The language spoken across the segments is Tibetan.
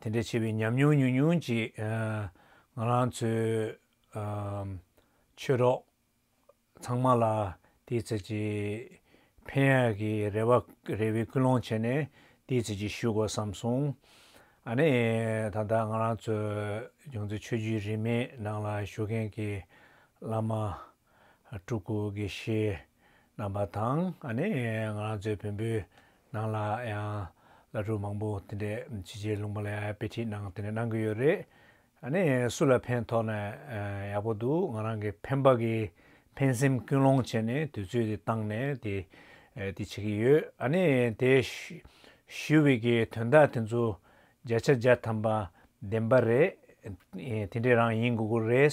དེ་འདྲའི་ཆེ་བའི་ཉམས་མྱོང་ཉུང་ཉུང་ཅིག་ང་རང་ཚོའི་ཆོས་གྲོགས་ཚང་མ་ལ་དེའི་ཚོད་ཀྱི་ཕན་ཡོད་ཀྱི་རེ་བ་རེ་བའི་ཀུན་སློང་བྱས་ནས་དེའི་ཚོད་ཀྱི་ཞུ་དགོས་བསམ་སོང། ཨ་ནི་ད་ལྟ་ང་རང་ཚོའི་ཡོངས་འཛིན་ཆོས་བརྒྱུད་རིས་མེད་ནང་ལ་བཞུགས་མཁན་གྱི་བླ་མ་སྤྲུལ་སྐུ་དགེ་བཤེས་རྣམ་པ་དང་ཨ་ནི་ང་རང་ཚོའི་བོན་པོའི་ནང་ལ་ཡང་བླ་སྤྲུལ་མང་པོ་དེ་འདྲས་ཕྱི་རྗེས་ལུང་པ་ལ་དཔེ་ཁྲིད་གནང་དེ་འདྲས་གནང་གི་ཡོད་རེད། ནི་སུ་ལ་ཕན་ཐོག་ན་ཡག་པོ་འདུག་ང་རང་གི་ཕན་པ་གི་ཕན་སེམས་ཀུན་སློང་བྱས་ནས་དུས་ཚོད་དེ་བཏང་ནས་དེ་དེ་བྱེད་ཀྱི་ཡོད། ནི་དེ་ཞུ་བའི་གི་དོན་དག་དེ་ཚོ་བརྒྱ་ཆ་བརྒྱ་ཐམ་པ་བདེན་པ་རེད། དེ་འདྲས་རང་ཡིན་དགོས་ཀྱི་རེད།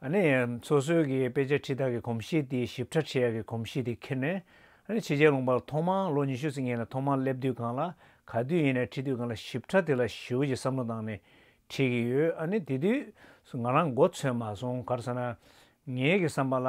ནས་སོ་སོའི་གི་དཔེ་ཆ་ཁྲི་དག་གི་གོམས་གཤིས་དེ་ཞིབ་ཕྲ་ཆེ་ཡག་གི་གོམས་གཤིས་དེ་ཁྱེར་ནས། ནས་ཕྱི་རྒྱལ་ལུང་པར་ཐོག་མང་ལོ་ཉི་ཤུ་ཟིན་མཁན་ལ་ཐོག་མང་སླེབས་དུས་གང་ལ་ག་དུས་ཡིན་ནས་ཁྲིད་དུས་གང་ལ་ཞིབ་ཕྲ་དེ་ལ་ཞིའུ་ཡི་བསམ་བློ་བཏང་ནས་ཁྲིད་གི་ཡོད་ཨ་ནས་དེ་དུས་སུ་ང་རང་མགོ་འཚོས་མ་སོང་གར་ས་ན་ངའི་གི་བསམ་པ་ལ་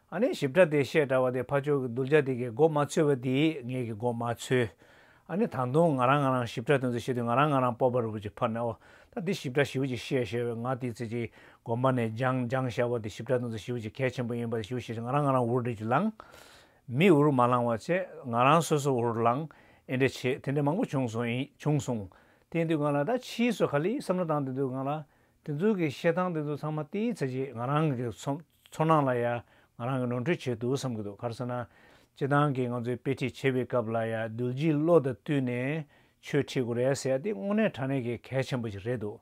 ཨ་ནེ་ཞིབ་ཕྲ་དེ་བཤད་གྲྭ་བ་དེ་ཕ་ཆོས་ཀྱི་གདུལ་བྱ་དེ་གའི་མགོ་མ་ཚོས་བ་དེས་ངེད་ཀྱི་མགོ་མ་ཚོས། ཨ་ནེ་ད་དུང་ང་རང་ང་རང་ཞིབ་ཕྲ་དེ་ཚོ་བཤད་དུས་ང་རང་ང་རང་སྤོབས་པ་རུ་བུ་ཅིག་ཕར་ནས་འོ་ད་འདི་ཞིབ་ཕྲ་ཞིབ་ཅིག་བཤད་ཞེས་བའི་ང་དེའི་ཚེ་ཅིག་དགོན་པ་ནས་སྦྱངས་སྦྱངས་ཞྭ་བ་དེ་ཞིབ་ཕྲ་དེ་ཚོ་ཞིབ་ཅིག་གལ་ཆེན་པོ་ཡིན་པ་དེ་ཞུ་ཞེས་ང་རང་ང་རང་འུར་འདྲི་ཅིག་ལང། མི་འུར་མ་ལང་བ་ཆེ་ང་རང་སོ་སོ་འུར་ལང་ཨེ་འདྲེ་ཆེ་དེ་འདྲེ་མང་པོ་བྱུང་སོང་ཡིན་བྱུང་སོང། དེའི་དུས་ང་ལ་ད་ཕྱིས་སུ་ག་ལི་བསམ་བློ་བཏང་དེ་དུས་ང་ལ་དེ་ཚོའི་གི་བཤད་སྟངས་དེ་ཚོ་ཚང་མ་དེའི་ཚེ་ཅིག་ང་རང་གི་ཚོམས། ཚོར་སྣང་ལ་ཡང་ང་རང་གིས་ནོར་འཁྲུལ་བྱས་འདུག་བསམ་གྱི་འདུག་གར་སོང་ན། སྤྱི་བཏང་གིས་ང་ཚོས་དཔེ་ཁྲིད་བྱེད་པའི་སྐབས་ལ་ཡང་རྡུལ་སྒྱིད་བློ་དང་བསྟུན་ནས་ཆོས་ཁྲིད་དགོས་རེད་ཟེར་ཡ་འདི་དངོས་གནས་དྲང་གནས་ཀྱི་གལ་ཆེན་པོ་ཞིག་རེད་འདུག་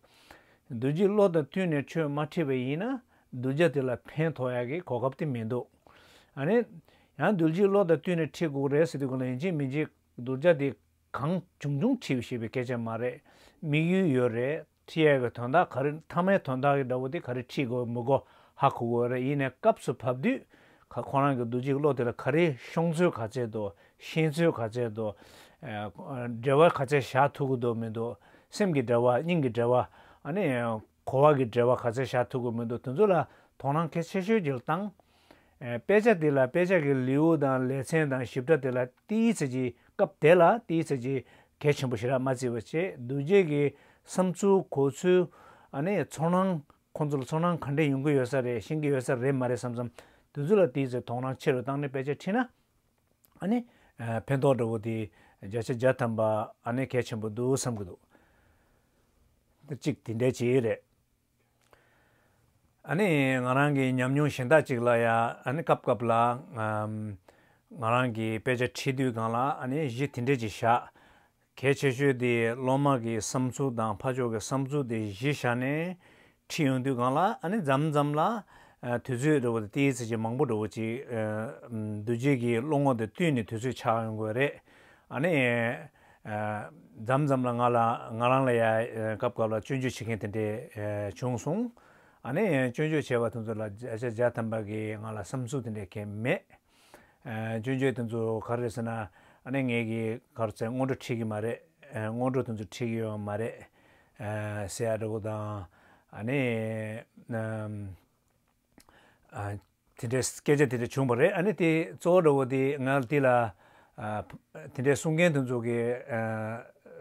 རྡུལ་སྒྱིད་བློ་དང་བསྟུན་ནས་ཆོས་མ་ཁྲིད་པ་ཡིན་ན་གདུལ་བྱ་དེ་ལ་ཕན་ཐོགས་ཡག་གི་གོ་སྐབས་དེ་མི་འདུག་ཨ་ནི། ཡང་རྡུལ་སྒྱིད་བློ་དང་བསྟུན་ནས་ཁྲིད་དགོས་རེད་ཟེར་དུས་གང་ལ་ཡིན་གཅིག་མིན་གཅིག་གདུལ་བྱ་དེ་གང་བྱུང་བྱུང་ཁྲིད་ཤེས་པའི་སྐད་ཆ་མ་རེད་དམིགས་ཡུལ་ཡོད་རེད། ཁྲིད་ཡས་ཀྱི་དོན་དག་ག་རེ་མཐའ་མའི་དོན་དག་གི་འདྲ་བོ་དེ་ག་རེ་ཁྲིད་དགོས་མི་དགོས་ཧ་གོ་དགོས་རེད་ཡིན་ནས་སྐབས་སུ་བབས་དུས་ག་ཁོ་རང་གི་འདུག་འཇིག་བློ་དེ་ལ་ག་རེ་ཤོང་ཚུལ་ག་བྱེད་འདུག་ཤེས་ཚུལ་ག་བྱེད་འདུག་འབྲེལ་བ་ག་ཚད་བཞག་ཐུབ་ཀྱི་འདུག་མི་འདུག་སེམས་ཀྱི་འབྲེལ་བ་སྙིང་གི་འབྲེལ་བ་ཨ་ནི་གོ་བ་གི་འབྲེལ་བ་ག་ཚད་བཞག་ཐུབ་ཀྱི་མི་འདུག་དེ་ཚོ་ལ་དོགས་སྣང་གལ་ཆེ་ཤོས་ཀྱི་ལྟངས། དཔེ་ཆ་དེ་ལ་དཔེ་ཆ་གི་ལེའུ་དང་ལེ་ཚན་དང་ཞིབ་ཕྲ་དེ་ལ་ཏི་ཡིས་ཚེ་གཅིག་སྐབས་དེ་ལ་ཏི་ཡིས་ཚེ་གཅིག་གལ་ཆེན་པོ་ཞིག་རག་མ་རྩིས་པ་བྱེད་འདུག་རྗེས་ཀྱི་བསམ་ཚུལ་གོ་ཚུལ་ཨ་ནི་ཚོར་སྣང་ཁོང་ཚོ་ལ་ཚོར་སྣང་ག་འདྲས་ཡོང་གི་ཡོད་ས་རེད་ཤེས་ཀྱི་ཡོད་ས་རེད་མ་རེད་བསམ་བསམ་དུས་ཚོད་ལ་ཏི་ཡིས་ཚེ་དོགས་སྣང་ཆེ་རུ་བཏང་ནས་དཔེ་ཆ་ཁྲིད་ན་ཨ་ནི་ཕན་ཐོག་འདྲ་བོ་དེ་བརྒྱ་ཆ་བརྒྱ་ཐམ་པ་ཨ་ནི་གལ་ཆེན་པོ་འདུག་བསམ་གྱི་འདུག་གཅིག་དེ་འདྲས་བྱེད་ཡས་རེད། ཨ་ནི་ང་རང་གི་ཉམས་མྱོང་གཞན་དག་ཅིག་ལ་ཡ་ཨ་ནི་སྐབས་སྐབས་ལ་ང་རང་གི་དཔེ་ཆ་ཁྲིད་དུས་སྒང་ལ་ཨ་ནི་གཞི་དེ་འདྲས་ཅིག་བཞག་གལ་ཆེ་ཤོས་དེ་སློབ་མ་གི་བསམ་ཚུལ་དང་ཕ་ཕྱོགས་ཀྱི་བསམ་ཚུལ་དེ་གཞི་བཞག་ནས་ཁྲིད་ཡོང་དུས་སྒང་ལ་ཨ་ནི་འཛམ་འཛམ་ལ་དུས་ཚོད་འགྲོ་བ་དེ་ཏིའི་ཚེ་ཆེ་མང་པོ་འགྲོ་བ་ཅིག་འདུག་རྗེས་ཀྱི་བློ་ངོ་དེ་བཏུས་ནས་དུས་ཚོད་ཆགས་ཡོང་དགོས་རེད་ཨ་ནི། འཇམ་འཇམ་ལ་ང་ལ་ང་རང་ལ་ཡ་སྐབས་སྐབས་ལ་སྤྱོད་འཇུག་བྱེད་མཁན་དེ་འདྲས་བྱུང་སོང། ཨ་ནེ་ཡང་སྤྱོད་འཇུག་བྱེད་པ་དེ་ཚོ་ལ་བྱ་བྱ་དམ་པ་གིས་ང་ལ་བསམ་ཚུལ་དེ་འདྲས་མཁན་མེད། སྤྱོད་འཇུག་དེ་ཚོ་ག་རེ་རེད་ཟེར་ན་ཨ་ནེ་ངེད་ཀྱི་གར་རྩེད་སྔོན་འགྲོ་ཁྲིད་ཀྱི་མ་རེད། སྔོན་འགྲོ་དེ་ཚོ་ཁྲིད་ཀྱི་ཡོད་མ་རེད། སེ་ཡ་འདྲ་པོ་དང་ཨ་ནེ། དེ་འདྲའི་སྐད་ཆ་དེ་འདྲ་བྱུང་བ་རེད་ཨ་ནི་དེ་གཙོ་བོ་འདྲ་བོ་དེ་ང་འདི་ལ། དེ་འདྲའི་གསུང་མཁན་དེ་ཚོ་གི་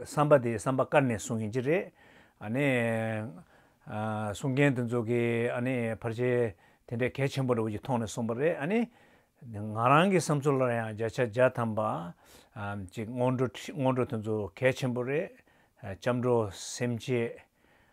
བསམ་པ་དེ་བསམ་པ་བཀར་ནས་གསུང་ཡིན་གྱི་རེད། ཨ་ནི། གསུང་མཁན་དེ་ཚོ་གི་ཨ་ནི་ཕར་ཆེར་དེ་འདྲའི་གལ་ཆེན་པོ་འདྲ་བོ་ཞིག་མཐོང་ནས་གསུངས་པ་རེད་ཨ་ནི། ང་རང་གི་བསམ་ཚུལ་ལ་ཡང་བརྒྱ་ཆ་བརྒྱ་ཐམ་པ། ཅིག་སྔོན་འགྲོ་སྔོན་འགྲོ་དེ་ཚོ་གལ་ཆེན་པོ་རེད། སྐྱབས་འགྲོ་སེམས་བསྐྱེད།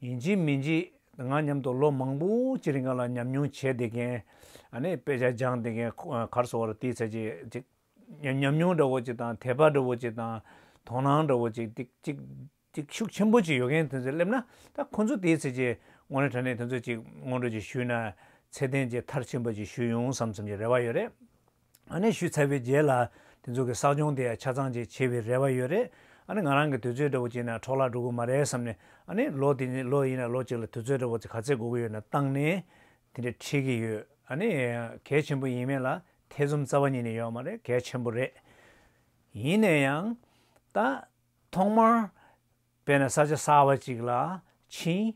ཡིན་གྱི་མིན་གྱི་ང་མཉམ་དུ་ལོ་མང་པོ་ཅི་རིང་ག་ལ་ཉམས་མྱོང་བྱས་བསྡད་མཁན། ཨནི་དཔེ་ཆ་སྦྱངས་བསྡད་མཁན་གར་སོང་བར་ལྟས་ཚད་ཅིག་ཉམས་མྱོང་འདྲ་བོ་ཅིག་དང་དད་པ་འདྲ་བོ་ཅིག་དང་དོ་སྣང་འདྲ་བོ་ཅིག་ཅིག་ཤུགས་ཆེན་པོ་ཅིག་ཡོད་མཁན་དེ་ཚོས་སླེབས་ན་ད་ཁོ་ཚོ་ལྟས་ཚད་ཅིག་ངོ་ནས་དྲན་ནས་དེ་ཚོ་ཅིག་སྔོན་འགྲོ་ཅིག་ཞུས་ན་ཚད་ལྡན་ཅིག་མཐར་ཕྱིན་པ་ཅིག་ཞུས་ཡོང་བསམ་བསམ་གྱི་རེ་བ་ཡོད་རེད། ཨ་ནེ་ཞུས་ཚར་བའི་རྗེས་ལ་དེ་ཚོ་གི་བསགས་སྦྱོང་དེ་ཡང་ཆ་ཚང་ཅིག་བྱེད་པའི་རེ་བ་ཡོད་རེད་ཨ་ནེ་ང་རང་གི་དུས་ཚོད་འདྲ་བོ་བྱས་ན་འཕྲོག་བརླག་འགྲོ་གི་མ་རེད་བསམ་ནས་ཨ་ནེ་ལོ་དེ་ནི་ལོ་ཡིན་ན་ལོ་གཅིག་ལ་དུས་ཚོད་འདྲ་བོ་ག་ཚད་འགོར་གི་ཡོད་ན་བཏང་ནས་དེ་འདྲ་ཁྲིད་ཀྱི་ཡོད་ཨ་ནེ། གལ་ཆེན་པོ་ཡིན་མེད་ལ་ཐེ་ཚོམ་རྩ་བ་ཉིད་ནས་ཡོད་མ་རེད་གལ་ཆེན་པོ་རེད། ཡིན་ནས་ཡང། ད། ཐོག་མར། དཔེར་ན་ས་ཆ་གསར་བ་ཅིག་ལ་ཕྱིན།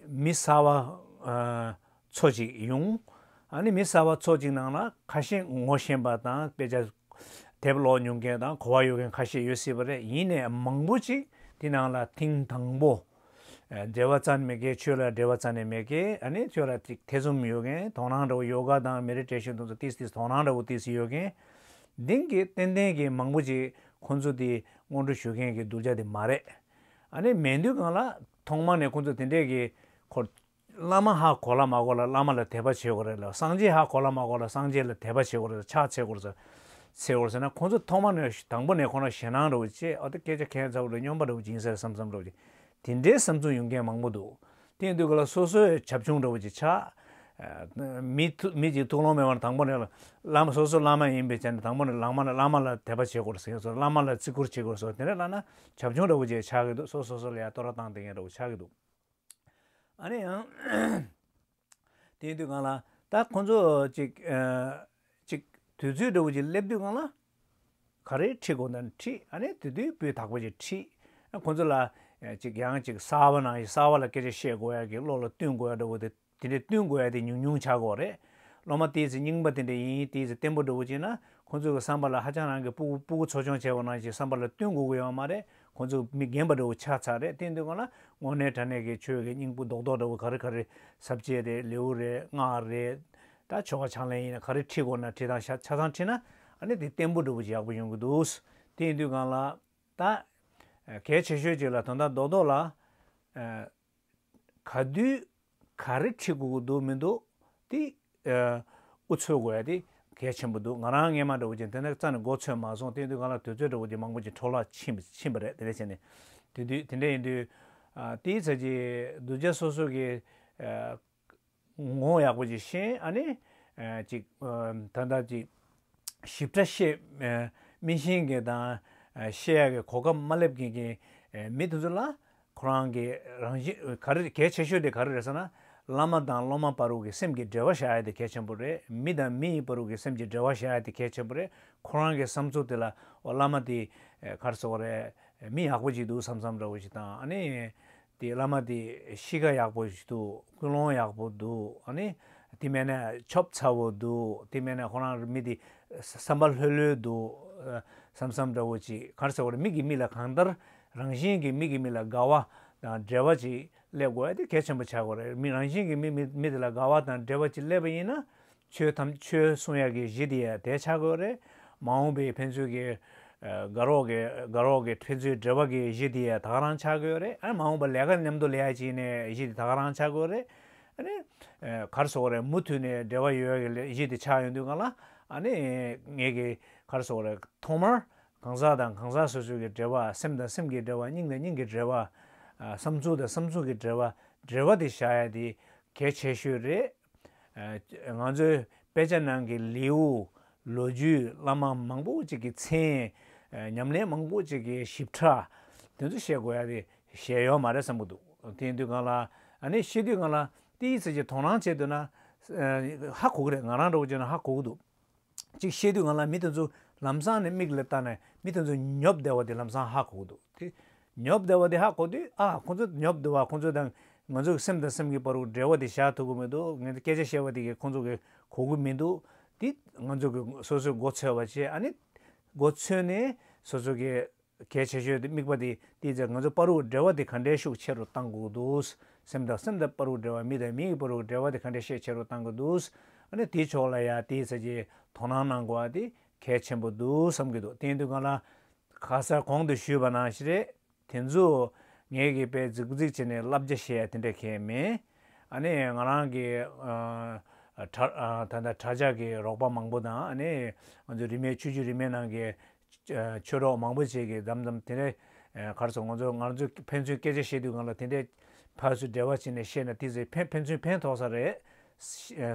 མི་གསར་བ་ཚོ་ཅིག་ཡོང། མི་གསར་བ་ཚོ་ཅིག་ནང་ལ་ཁ་ཞེ་ངོ་ཤེས་པ་དང་དཔེ་ཆ་དེབ་ཀློག་མྱོང་མཁན་དང་གོ་བ་ཡོད་མཁན་ཁ་ཤས་ཡོད་སྲིད་པ་རེད་ཡིན་ནའི་མང་པོ་ཅིག་དེ་ནང་ལ་ཐེངས་དང་པོ་འབྲེལ་བ་རྩ་ནས་མེད་མཁན་ཆོས་ལ་འབྲེལ་བ་རྩ་ནས་མེད་མཁན་ཆོས་ལ་ཐེ་ཚོམ་ཡོད་མཁན་དོ་སྣང་འདྲ་བོ་ཡོ་ག་དང་མེ་རི་བྲེ་གཞོན་དུ་ཚོ་ཏིས་ཏིས་དོ་སྣང་འདྲ་བོ་ཏིས་ཡོད་མཁན་དེང་གི་ཏན་ཏན་གྱི་མང་པོ་ཅིག་ཁོ་ཚོ་དེ་སྔོན་འགྲོ་ཞུ་མཁན་གྱི་གདུལ་བྱ་དེ་མ་རེད། ཨ་ནི་མེད་དུས་གང་ལ་ཐོག་མ་ནས་ཁོ་ཚོ་དེ་འདྲས་ཀྱི་འཁོར། བླ་མ་ཧ་གོ་ལ་མ་གོ་ལ་བླ་མ་ལ་དད་པ་བྱེད་དགོས་རེད་ལ་སངས་རྒྱས་ཧ་གོ་ལ་མ་གོ་ལ་སངས་རྒྱས་ལ་དད་པ་བྱེད་དགོས་རེད་ལ་ཕྱག་འཚལ་དགོས་ཟེར་དགོས་ཟེར་ན་ཁོ་ཚོ་ཐོག་མ་ནས་དང་པོ་ནས་ཁོ་རང་ཞེད་སྣང་རེད་བོ་ཅེ་ཨོ་ཏི་སྐད་ཆ་ཁས་འཚལ་བོ་རེད་སྙོམས་པ་རེད་བོ་སྦྱིན་སྲེག་སམ་སམ་རེད་བོ་ཅེ་དེ་འདྲའི་བསམ་ཚུལ་ཡོང་མཁན་མང་པོ་འདུག་དེང་དུས་ག་ལ་སོ་སོའི་བྱབ་ཆུང་འདྲ་བོ་ཅིག་ཆགས། མི་གཅིག་ཐུགས་ལོང་མེད་པར་དང་པོ་ནས་བླ་མ་སོ་སོ་བླ་མ་ཡིན་པའི་ཆ་ནས་དང་པོ་ནས་ལང་མ་ལ་བླ་མ་ལ་དད་པ་བྱེད་དགོས་ཟེར་གི་སོ་བླ་མ་ལ་བརྩི་བཀུར་བྱེད་དགོས་སོ་དེ་འདྲ་བླ་ན་བྱབ་ཆུང་འདྲ་བོ་ཅིག་ཆགས་ཀྱི་འདུག་སོ་སོ་སོ་ལ་ཡང་བསྟོད་ར་བཏང་བསྡད་མཁན་འདྲ་བོ་ཆགས་ཀྱི་འདུག། ཨ་ནི་ཡང། དེང་དུས་གང་ལ་ད་ཁོང་ཚོ་ཅིག། དུས་ཚོད་འདྲ་བོ་ཅིག་སླེབས་དུས་གང་ལ། ག་རེ་ཁྲིད་དགོས་ན་ཁྲིད། དེ་དུས་སྤུས་དག་པོ་ཞིག་ཁྲིད། ཁོ་ཚོ་ལ། ཅིག་ཡང་ཅིག་གསར་བ་ན་གསར་བ་ལ་སྐད་ཆ་བཤད་དགོས་ཡ་གི་བློ་ལ་བསྟུན་དགོས་ཡ་འདྲ་བོ་དེ་དེ་འདྲའི་བསྟུན་དགོས་ཡ་དེ་ཉུང་ཉུང་ཆགས་དགོས་རེད། སློབ་མ་དེའི་ཚེ་རྙིང་པ་དེ་འདྲ་ཡིན་དེའི་ཚེ་བརྟན་པོ་འདྲ་བོ་བྱེད་ན་ཁོ་ཚོ་གི་བསམ་པ་ལ་ཧ་ཅང་རང་གི་སྤུ་སྤུ་གུ་ཚོ་སྦྱོང་བྱས་པ་ན་ཞིག་བསམ་པ་ལ་བསྟུན་དགོས་ཀི་ཡོད་མ་རེད་ཁོ་ཚོ་མི་རྒན་པ་འདྲ་བོ་ཆགས་ཚར་རེད་དེའི་དུས་སྐོར་ལ་དངོས་གནས་དྲ་གནས་ཀི་ཆོས་ཀི་སྙིང་པོ་རྡོག་རྡོག་འདྲ་བོ་ག་རེ་ག་རེ་ཟབ་རྒྱས་རེད་ལེའུ་རེད་སྔགས་རེད། ད་ཆོ་ག་ཆང་ལེན་ཡིན་ན་ག་རེ་ཁྲིད་དགོས་ན་ཁྲིད་དང་ཆ་ཚང་ཁྲིད་ན་ཨ་ནི་དེ་བརྟན་པོ་འགྲུབ་པོ་ཡག་པོ་ཡོང་གི་འདུག་དེ་ཡིན་དུས་གང་ལགས། ད། གལ་ཆེ་ཤོས་གཅིག་ལ་དོན་དག་རྡོག་རྡོག་ལ། ག་དུས། ག་རེ་ཁྲིད་དགོས་ཀྱི་འདུག་མི་འདུག་དེ། འུ་ཚོའི་དགོས་ཡ་དེ་གལ་ཆེན་པོ་འདུག་ང་རང་སྔས་མ་འདྲ་བོ་ཅིག་དེ་འདྲ་རྩ་ནས་འགོ་ཚོས་མ་སོང་དེ་ཡིན་དུས་གང་ལགས་དུས་ཚོད་འདྲ་བོ་ཅིག་མང་པོ་ཅིག་འཕྲོ་བརླག་ཕྱིན་ཕྱིན་པ་རེད་དེ་འདྲ་བྱས་ནས། དེ་དུས་དེ་འདྲ་ཡིན་དུས། དེའི་ཚད་ཀྱིས་གདུལ་བྱ་སོ་སོ་གི། ངོ་ཡག་པོ་ཅིག་ཤེས་ཨ་ནི། ཅིག། ད་ལྟ་ཅིག། ཞིབ་ཕྲ་ཤེས། སྨིན་ཤེས་མཁན་དང། ཤེས་ཡག་གི་གོ་སྐབས་མ་སླེབས་མཁན་གྱི། མི་དེ་ཚོ་ལ། ཁོ་རང་གི་རང་བཞིན་ག་རེ་གལ་ཆེ་ཤོས་དེ་ག་རེ་རེད་ཟེར་ན། བླ་མ་དང་སློབ་མ་བར་རུ་གི་སེམས་ཀྱི་འབྲེལ་བ་བྱ་ཡ་དེ་གལ་ཆེན་པོ་རེད་མི་དང་མི་ཡི་བར་རུ་གི་སེམས་ཀྱི་འབྲེལ་བ་བྱ་ཡ་དེ་གལ་ཆེན་པོ་རེད་ཁོ་རང་གི་བསམ་ཚུལ་དེ་ལ་འོ་བླ་མ་དེ། གར་སོང་བ་རེད། མི་ཡག་པོ་ཅིག་འདུག་བསམ་བསམ་འདྲ་བོ་ཞིག་དང་ཨ་ནི། དེ་བླ་མ་དེ་གཤིས་ཀ་ཡག་པོ་ཞིག་འདུག་ཀུན་སློང་ཡག་པོ་འདུག་ཨ་ནི་དེ་མེད་ན་ཆོབ་ཚ་བོ་འདུག་དེ་མེད་ན་ཁོ་རང་མི་དེ་བསམ་པ་ལྷོད་ལྷོད་འདུག་བསམ་བསམ་འདྲ་བོ་ཅིག་གར་ཟེར་བ་ནི་མིག་གིས་མིག་ལ་གང་ལྟར་རང་བཞིན་གྱིས་མིག་གིས་མིག་ལ་དགའ་བ་དང་འབྲེལ་བ་ཅིག་སླེབས་དགོས་ཨ་དེ་གལ་ཆེན་པོ་ཆགས་དགོས་རེད་མི་རང་བཞིན་གྱིས་མིག་མི་དེ་ལ་དགའ་བ་དང་འབྲེལ་བ་ཅིག་སླེབས་པ་ཡིན་ན་ཆོས་ཐམས་ཅད་གསུང་ཡག་གི་གཞི་དེ་དེ་ཆགས་དགོས་རེད། མ་འོངས་པའི་ཕན་ཚུན་གྱི་དགའ་རོགས་ཀྱི་ཕན་ཚུན་འབྲེལ་བ་གྱི་གཞི་དེ་དག་རང་ཆགས་དགོས་རེད། མ་འོངས་པ་ལས་ཀ་མཉམ་དུ་ལས་ཡག་བྱེད་ནས་གཞི་དེ་དག་རང་ཆགས་དགོས་རེད། གར་སོགས་རེད་མུ་མཐུད་ནས་འབྲེལ་བ་ཡོད་ཡག་གི་གཞི་དེ་ཆགས་ཡོང་དུས་གང་ལ། ངེད་ཀྱི་གར་སོགས་རེད་ཐོག་མར་གང་ཟག་དང་གང་ཟག་སོ་སོ་གྱི་འབྲེལ་བ་སེམས་དང་སེམས་ཀྱི་འབྲེལ་བ་སྙིང་དང་སྙིང་གི་འབྲེལ་བ། བསམ་ཚུལ་དང་བསམ་ཚུལ་གྱི་འབྲེལ་བ་འབྲེལ་བ་དེ་བཞག་ཡག་དེ་གལ་ཆེ་ཤོས་རེད། ང་ཚོའི་དཔེ་ཆ་ནང་གི་ལེའུ་ལོ་རྒྱུས་བླ་མ་མང་པོ་ཅིག་གི་མཚན་ཉམས་ལེན་མང་པོ་ཅིག་གི་ཞིབ་ཕྲ་དེ་ཚོ་བཤད་དགོས་ཡ་རེད་བཤད་ཡོད་མ་རེད་བསམ་གྱི་འདུག་དེ་དུས་གང་ལ་ཨ་ནི་ཤེས་དུས་གང་ལ་ཏི་ཡི་ཚེ་ཆེ་དོ་སྣང་བྱེད་འདོད་ན་ཧ་གོ་གི་རེད་ང་རང་འདྲ་བོ་བྱས་ན་ཧ་གོ་གི་འདུག། ཅིག་བཤད་དུས་ང་ལ་མི་དེ་ཚོ་ལམ་སང་ནས་མིག་ལ་བལྟ་ནས་མི་དེ་ཚོ་ཉོབ་བསྡད་བ་དེ་ལམ་སང་ཧ་གོ་འདུག་དེ་ཉོབ་བསྡད་བ་དེ་ཧ་གོ་དུས་ཨ་ཁོ་ཚོ་ཉོབ་བསྡད་བ་ཁོ་ཚོ་དང་ང་ཚོ་སེམས་དང་སེམས་ཀྱི་བར་བར་འབྲེལ་བ་དེ་བཞག་ཐུབ་ཀྱི་མི་འདུག་ངས་སྐད་ཆ་བཤད་པ་དེ་གས་ཁོ་ཚོ་གས་གོ་གི་མི་འདུག་དེ་ང་ཚོ་གས་སོ་སོའི་མགོ་འཚོས་པ་བྱས་ཨ་ནི་མགོ་འཚོས་ནས་སོ་སོ་གས། གལ་ཆེ་ཤོས་དམིགས་པ་དེ་དེའི་ཚེ་ང་ཚོའི་དཔའ་རུ་འབྲེལ་བ་དེ་ག་འདྲའི་ཤུགས་ཆེ་རུ་གཏང་དགོས་འདུག་སེམས་དང་སེམས་དང་དཔའ་རུ་འབྲེལ་བ་མི་དང་མི་ཡི་དཔའ་རུ་འབྲེལ་བ་དེ་ག་འདྲའི་ཤེད་ཆེ་རུ་གཏང་གི་འདུག་ཨ་ནི་དེའི་ཕྱོགས་ལ་ཡང་དེའི་ཚེ་ཀྱི་དོ་སྣང་གནང་དགོས་པ་དེ་གལ་ཆེན་པོ་འདུག་བསམ་གྱི་འདུག་དེའི་དུས་གང་ལ་ག་སར་གོང་དུ་ཞུས་པ་ན་ཞེས་རེད་དེ་ཚོ་ངེད་ཀྱི་པས་རྫིག་པོ་རྫིག་བྱས་ནས་བསླབ་བྱ་བཤད་ཡ་དེ་འདྲ་གལ་མེད་ཨ་ནི་ང་རང་གི་ད་ལྟ་གྲྭ་ཇག་གི་རོགས་པ་མང་པོ་དང་ཨ་ནི་ང་ཚོའི་རིས་མེད་ཆོས་བརྒྱུད་རིས་མེད་ནང་གི་ཆོས་གྲོགས་མང་པོ་ཞིག་གིས་དམ་དམ་དེ་འདྲའི་གར་སོང་ང་ཚོ་ང་ཚོ་ཕན་ཚུན་སྐད་ཆ་བཤད་དུས་ང་ལ་དེ་འདྲའི་ཕར་ཚུར་འབྲེལ་བ་བྱས་ནས་བཤད་ན་དེ་ཚོས་ཕན་ཕན་ཚུན་ཕན་ཐོགས་ས་རེད།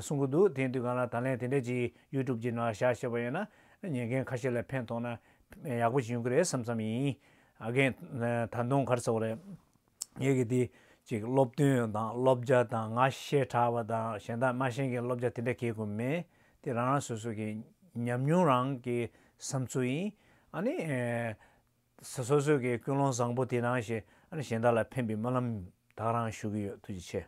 གསུང་གི་འདུག་དེང་དུས་ང་ལ་ད་ལན་དེ་འདྲའི་ཅི YouTube ཀྱི་ནང་བཞག་བཤད་པ་ཡོད་ན་ཉན་མཁན་ཁ་ཤས་ལ་ཕན་ཐོགས་ན་ཡག་པོ་ཞིག་ཡོང་གི་རེད་བསམ་བསམ་ཡིན། ཨ་རྒན། ད་དུང་གར་སོང་རེད། ངེད་ཀྱིས་དེ་ཅིག་སློབ་སྟོན་དང་སློབ་སྦྱར་དང་ང་ཞེས་གྲགས་པ་དང་གཞན་དག་སྨྲ་ཤེས་མཁན་སློབ་སྦྱར་དེ་འདྲ་གྱེས་དགོས་མེད་དེ་རང་རང་སོ་སོ་གྱི་ཉམས་མྱོང་རང་གི་བསམ་ཚུལ་ཡིན་ཨ་ནི། སོ་སོ་སོས་ཀྱི་ཀུན་སློང་བཟང་པོ་དེ་རང་ཞེས་ཨ་ནི་གཞན་དག་ལ་ཕན་པའི་སྨོན་ལམ་དག་རང་ཞུ་གི་ཡོད་ཐུགས་རྗེ་ཆེ།